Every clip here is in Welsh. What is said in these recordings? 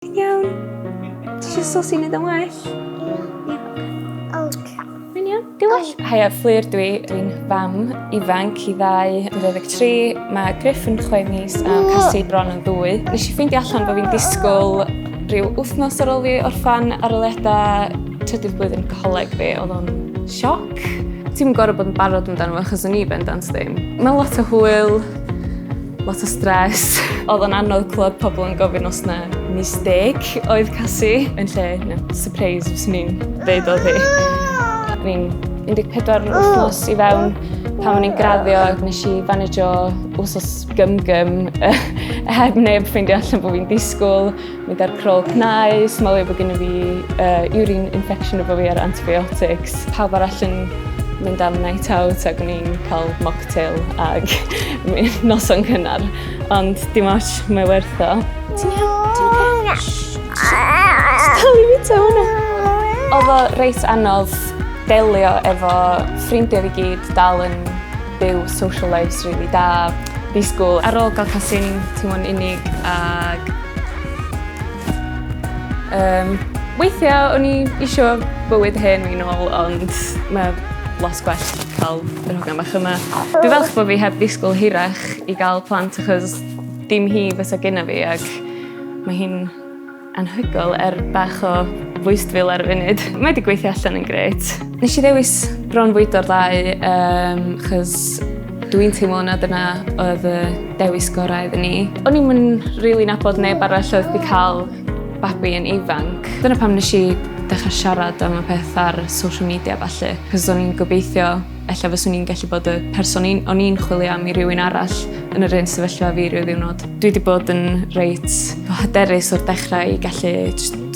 Ti'n iawn? Ti eisiau sos i wneud yn well? Diolch. Hi, a Fflur dwi. Dwi'n fam ifanc i ddau yn 23. Mae Griff yn chwe mis a Cassie bron yn ddwy. Nes i ffeindio allan bod fi'n disgwyl rhyw wythnos ar ôl fi orffan aroliadau trydydd blwyddyn coleg fi. Oedd o'n sioc. Ti'n gorfod bod yn barod amdano fo achos o'n i bendant ddim. Mae lot o hwyl, Lot o stres. Oedd o'n anodd clywed pobl yn gofyn os na mistake oedd Cassie. Yn lle, no, surprise fyswn i'n dweud oedd hi. O'n i'n 14 wythnos i fewn pan o'n i'n graddio ac nes i fanagio wsos gym gym heb neb ffeindio allan bod fi'n disgwyl. Mynd ar crawl cnau, smalio bod gennym fi uh, urine infection efo fi ar antibiotics. Pawb arall yn mynd am night out ac o'n i'n cael mocktail ag noson cynnar. Ond dim ots, mae werth o. Ti'n iawn? Ti'n oce? Stal i fita hwnna. Oedd o reit anodd delio efo ffrindiau fi gyd dal yn Byw social lives rili da, fi school. Ar ôl gael casin teimlo'n unig ag... Um, weithiau o'n i eisiau bywyd hen fi'n ôl ond mae lot gwell cael yr hogan bach yma. Dwi falch bod fi heb ddisgwyl hirach i gael plant achos dim hi fysa gyna fi ac mae hi'n Anhygoel er bach o fwystfil ar y funud. Mae wedi gweithio allan yn gret. Nes i ddewis bronfwydo'r ddau um, chys dwi'n teimlo na dyna oedd y dewis gorau iddyn ni. O'n i'n mynd really nabod neb arall oedd wedi cael babi yn ifanc. Dyna pam nes i dechrau siarad am y peth ar social media falle, cos o'n i'n gobeithio ella fyswn i'n gallu bod y person un, o'n i'n chwilio am i rywun arall yn yr un sefyllfa fi rhyw ddiwrnod. Dwi wedi bod yn reit hyderus o'r dechrau i gallu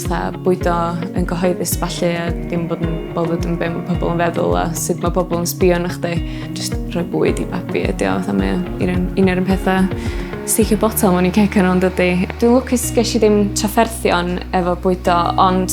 tha, bwydo yn gyhoeddus falle a ddim bod yn bothered yn beth mae pobl yn feddwl a sut mae pobl yn sbio yn chdi. Just rhoi bwyd i babi ydi o, fatha mae un, un o'r pethau sticio botol mewn i ceg yn ond ydy. Dwi'n lwcus ges i ddim trafferthion efo bwydo ond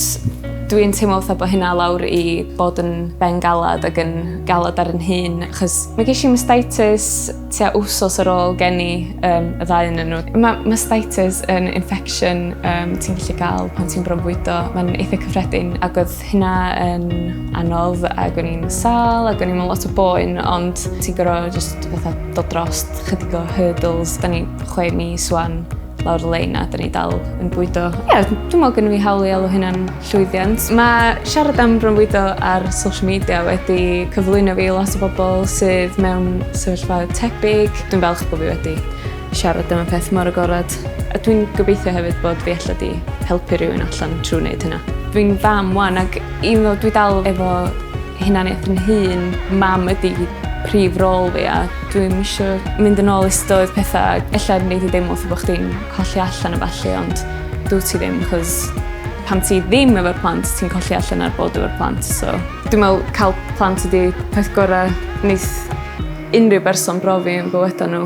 Dwi'n teimlo fatha bod hynna lawr i bod yn bengalad ac yn galad ar yn hun, achos mae ges i mastitis tua wsos ar ôl geni um, y ddau yn nhw. Mae mastitis yn infection um, ti'n gallu gael pan ti'n bronfwydo. Mae'n eitha cyffredin ac oedd hynna yn anodd ac o'n i'n sal ac o'n i'n lot o boen, ond ti'n gorau just fatha dod dros chydig o hurdles. Da ni chwe mis wan lawr y lein a dyn ni dal yn bwydo. Ie, yeah, dwi'n meddwl gen i fi hawl i alw hynna'n llwyddiant. Mae siarad am bronfwydo ar social media wedi cyflwyno fi lot o bobl sydd mewn sefyllfa tebyg. Dwi'n falch bod fi wedi siarad am y peth mor agored. A dwi'n gobeithio hefyd bod fi allan di helpu rhywun allan trwy wneud hynna. Dwi'n fam wan ac un ddo dwi dal efo hunaniaeth yn hun, mam ydi prif rôl fi a Dwi'm isio mynd yn ôl istoedd petha ella yn neud fi deimlo fel bo' chdi'n colli allan a ballu ond dw't ti ddim 'c'os pan ti ddim efo'r plant ti'n colli allan ar bod efo'r plant so dwi me'wl ca'l plant ydi peth gora' neith unryw berson brofi yn bywyda n'w.